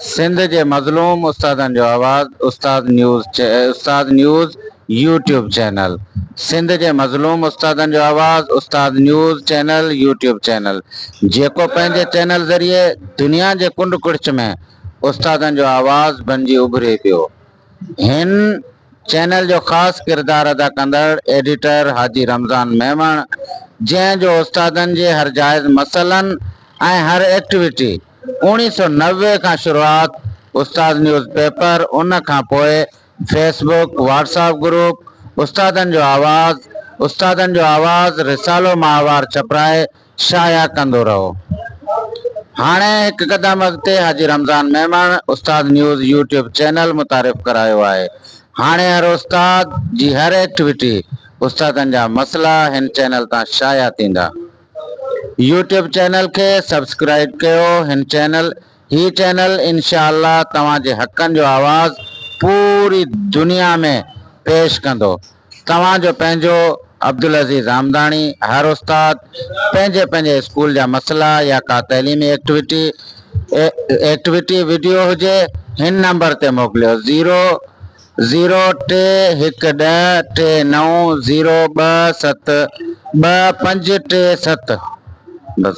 سنڌ جي مظلوم استادن جو آواز استاد نيوز استاد نيوز يوٽيوب چينل سنڌ جي مظلوم استادن جو آواز استاد نيوز چينل يوٽيوب چينل جيڪو پنهنجي چينل ذريعي دنيا جي ڪنڊ ڪڙڇ ۾ استادن جو آواز بنجي اڀري پيو هن چينل جو خاص ڪردار ادا ڪندڙ ايڊيٽر حاجي رمضان ميمڻ جنهن جو استادن جي هر جائز مسئلن ۽ هر ايڪٽويٽي اوڻي سو نوي کان شروعات استاد نيوز پيپر ان کان پوء فيس بوڪ واٽساپ گروپ استادن جو آواز استادن جو آواز رسالو ماهوار ڇپرائي شايع ڪندو رهو. هاڻي هڪ قدم اڳتي حاجي رمضان ميمڻ استاد نيوز يوٽيوب چينل متعارف ڪرايو آهي. هاڻي هر استاد جي هر ايڪٽويٽي، استادن جا مسئلا هن چينل تان شايع ٿيندا. يوٽيوب چينل کي سبسڪرائيب ڪيو هن چينل هي چينل انشاء الله توهان جي حقن جو آواز پوري دنيا ۾ پيش ڪندو. توهان جو پنهنجو عبدالعزيز آمداڻي هر استاد پنهنجي پنهنجي اسڪول جا مسئلا يا ڪا تعليمي ايڪٽوٽي ايڪٽوٽي وڊيو هجي هن نمبر تي موڪليو زيرو زيرو ٽي هڪ ڏهه ٽي نو زيرو ٻه ست ٻه پنج ٽي ست بس.